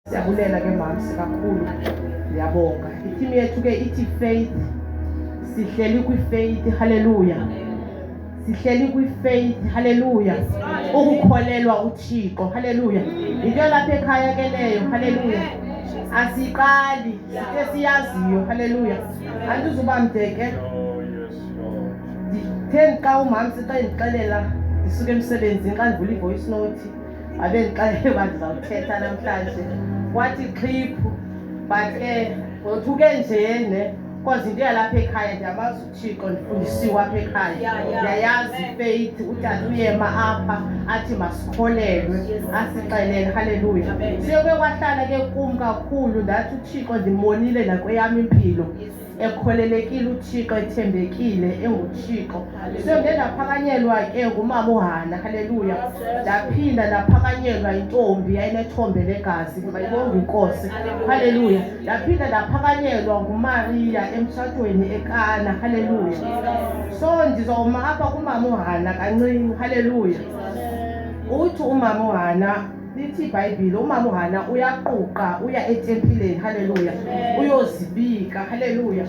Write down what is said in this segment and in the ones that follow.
Siyabulela ke mams kakhulu. Ndiyabonga. Iteam yethu ke ithi faith. Sihleli kwi faith. Hallelujah. Sihleli kwi faith. Hallelujah. Ukukholelwa uThixo. Hallelujah. Into lapha ekhaya ke leyo. Hallelujah. Asiqali sike siyaziyo. Hallelujah. Andizuba mde ke. Ndithe xa umama sixelela ndisuke emsebenzini xa ndivula i-voice note abe ndixelele uba ndizawuthetha namhlanje wathi xhiphu but ke ngothuke njene cause into yalapha ekhaya ndiyamazi uthixo ndifundisiwe apha ekhaya ndiyayazi ifeyith utata uyema apha athi masikholelwe asixelele halleluya siyobe kwahlala ke kum kakhulu ndathi uthixo ndimonile nakweyam impilo ekholelekile uthixo ethembekile enguthixo so nde ndaphakanyelwa ke ngumama uhana halleluya ndaphinda ndaphakanyelwa intombi yayinethombe legazi mayibonga inkosi halleluya ndaphinda ndaphakanyelwa ngumariya emtshatweni ekana halleluya so ndizawuma apha kumama uhana kancinci halleluya uthi umama uhana lithi ibhayibhile umama uhana uyaquqa uya etempileni haleluya uyozibika haleluya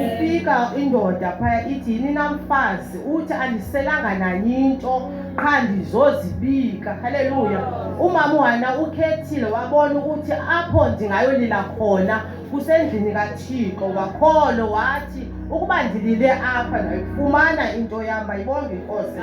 ufika indoda phaya ithi yini namfazi uthi andiselanga nanyinto qha ndizozibika haleluya umama uhana ukhethile wabona ukuthi apho ndingayolila khona usendlini kathixo wakholo wathi ukuba ndilile apha ndayifumana into yam bayibonge inkosi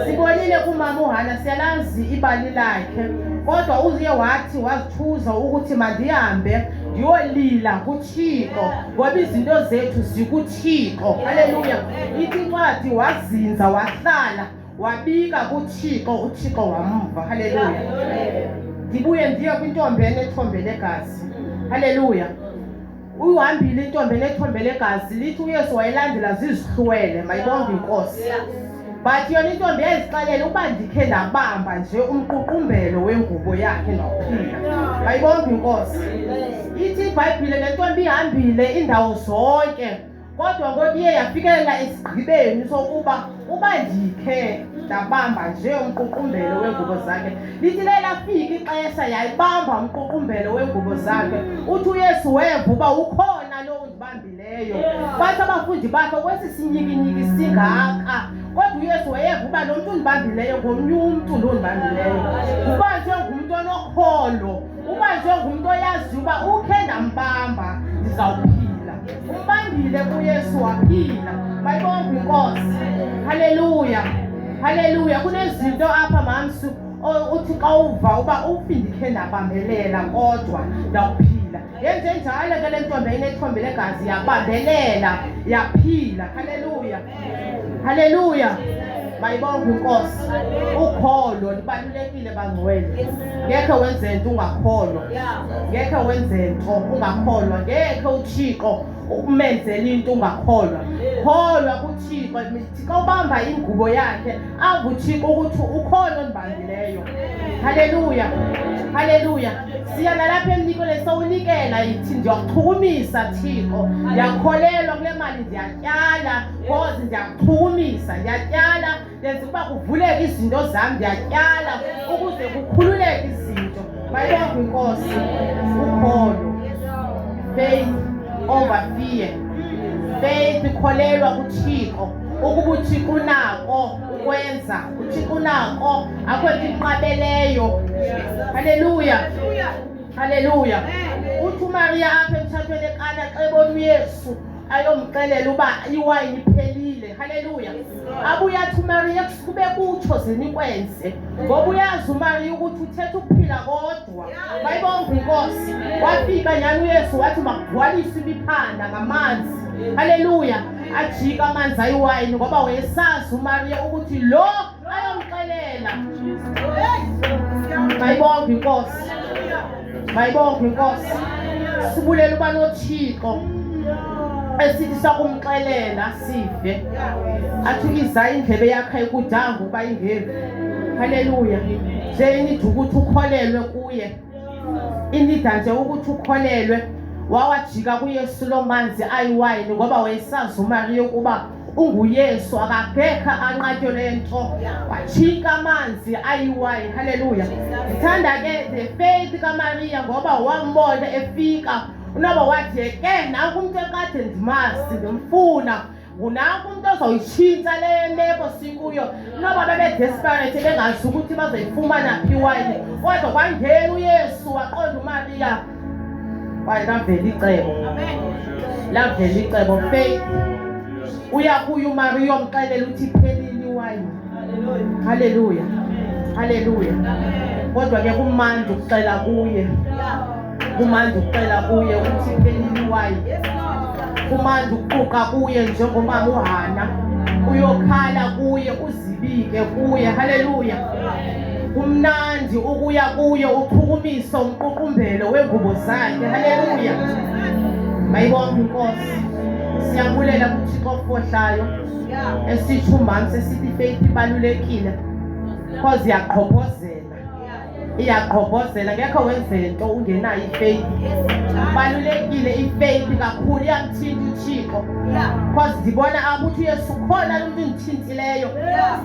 sibonile kumama uhana siyalazi ibali lakhe kodwa uye wathi wazithuza ukuthi mandihambe ndiyolila kuthixo ngoba izinto zethu zikuthixo haleluya ithi incwadi wazinza wahlala wabika kuthixo uthixo wamva haleluya ndibuye ndiye kwintombi enethombe legazi haleluya uhambile intombi enethombe legazi lithi uyesu wayelandela zizihlwele mayibonge inkosi but yona intombi yazixelela uba ndikhe ndabamba nje umququmbelo wengubo yakhe nophila mayibonge inkosi ithi ibhayibhile le ntombi ihambile indawo zonke Kodwa ngoku iye yafikelela esigqibeni sokuba uba ndikhe ndabamba nje umququmbelo weengubo zakhe lithi le lafika ixesha yayibamba umququmbelo weengubo zakhe uthi uyesu weva uba ukhona lo undibambileyo bathi abafundi bakhe kwesi sinyikinyiki singaka kodwa uyesu wayeva uba lo mntu undibambileyo ngomnye umntu lo undibambileyo uba nje ngumntu onokholo uba njengumntu oyaziyo uba ukhe ndambamba ndizawuphila umbambile kuyesu waphila bayibonga inkosi haleluya haleluya kunezinto apha mamsu uthi xa uva uba ufindikhe ndabambelela kodwa ndawuphila yenze njalo ke le ntombi ayinethombe legazi yabambelela yaphila haleluya Haleluya. Mayibonge inkosi. Ukholo libalulekile bangcwele. Ngeke wenze into ungakholwa. Ngeke wenze into ungakholwa. Ngeke uThixo ukumenzela into ungakholwa. Kholwa kuThixo, Thixo ubamba ingubo yakhe, akuthixo ukuthi ukhona onibambileyo. Haleluya. Haleluya. Siya nalapha emnikweni sowunikela yithi ndiyakuchukumisa Thixo. Ndiyakholelwa kule mali ndiya ndiyatyala kozi ndiyakuchumisa ndiyatyala ndenza ukuba kuvuleke izinto zam ndiyatyala ukuze kukhululeke izinto mayibonga kwinkosi ukholo faith over fear faith kholelwa kuthixo ukuba uthixo unako ukwenza uthixo unako akho nto inqabeleyo halleluya halleluya uthi umariya apha emtshatweni ekana xa ebona uyesu ayomxelela uba iwayini iphelile haleluya abuye athi umariya kube kutsho zinikwenze ngoba uyazi umariya ukuthi uthetha ukuphila kodwa bayibonga inkosi wafika nyani uyesu wathi makugcwalise imiphanda ngamanzi haleluya ajika amanzi ayiwayini ngoba wayesazi umariya ukuthi lo bayomxelela mayibonge inkosi mayibonge inkosi sibulela uba nothixo esithi sakumxelela sive athi uyiza indlebe yakhe ikudanga uba ingevi haleluya nje inida ukuthi ukholelwe kuye inida nje ukuthi ukholelwe wawajika kuyesu loo manzi ayiwayini ngoba wayesazi umariya ukuba unguyesu akagekha anqatyo le nto watshinka amanzi ayiwayi halleluya ndithanda ke the faith kamariya ngoba wambona efika unoba wathi ke nanku umntu ekade ndimazi ndimfuna ngunanku umntu ozoyitshintsha le meko sikuyo noba bebedesperate bengazi ukuthi bazoyifumana phi wayini kodwa kwangena uyesu waqonda umariya kwaye lavela icebo lavela icebo faith uya kuye umariya omxelela uthi phelile iwayini halleluya halleluya kodwa ke kumandi ukuxela kuye kumandi ukuxela kuye ukuthi phelile iwayini kumandi ukuquqa kuye njengomama uhana uyokhala kuye uzibike kuye halleluya kumnandi ukuya kuye uphukuma umqukumbelo wengubo zakhe haleluya mayibonke inkosi siyabulela kuthixo ofohlayo esithi umhamsi esithi ifeyithi ibalulekile cause iyaqhophozela iyaqhophozela ngekho wenze nto ungenayo ifeyithi balulekile ifeyithi kakhulu iyamthinta uthixo cause ndibona abuthi uyesu khona lomntu ndithinta leyo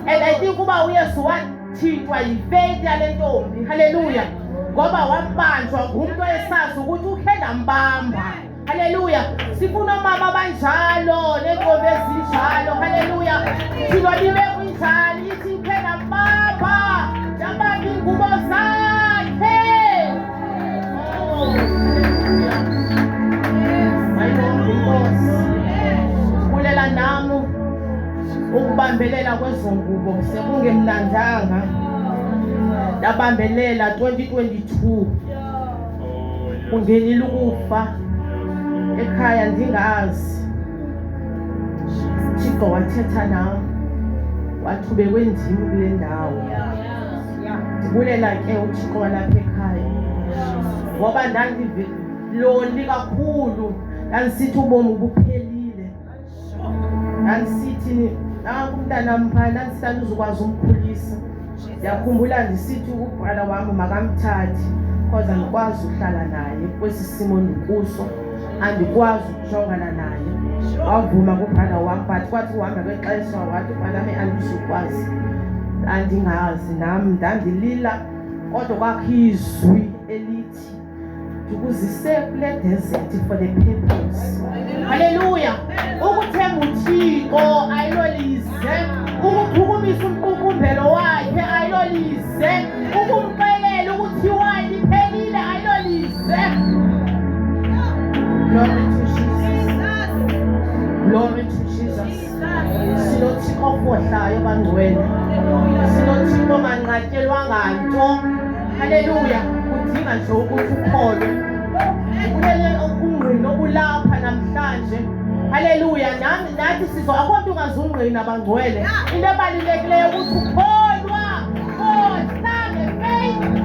and i think uba uyesu wathintwa yifeith yale ntombi halleluya ngoba wabanjwa ngumntu esazi ukuthi ukhe ndambamba halleluya sifuna omama abanjalo neentombi ezinjalo halleluya thina libe kunjalo ithi ukhe ndambamba ndambamba iingubo zakhe Bulela nam ukubambelela kwezo ngubo sekungemnandanga ndabambelela 2022 kungenile ukufa ekhaya ndingazi thixo wathetha nam wathubekwe ndim kule ndawo ndibulela ke uthixo walapha ekhaya ngoba ndandiloli kakhulu ndandisithi ubomi buphelile ndandisithi nanku umntanam phaya ndandisithi andizukwazi umkhulisa ndiyakhumbula ndisithi ubhala wam makamthathi because andikwazi ukuhlala naye kwesi simo ndikuso andikwazi jongana naye wavuma kubhana wam but kwathi uhamba kwexesha wathi ubhanami andizukwazi andingazi nam ndandilila kodwa kwakho izwi elithi ndikuzise kule desethi for the purpose halleluya ukuthemba uthixo ayilolizwe ukuphumisa umqukumbelo wakhe ayilolize ukumxelela ukuthi iwayini iphelile ayilolize Glory to Jesus. Glory to Jesus. Silothixo ofohlayo bangcwele. Silothixo onganqatyelwanga nto. Haleluya. Kudinga nje ukuthi ukholwe. Kulele okungqini okulapha namhlanje. Haleluya. Nami Nathi sizo akho mntu ungazungqina bangcwele. Into ebalulekileyo ukuthi ukholwa. God, stand and faith.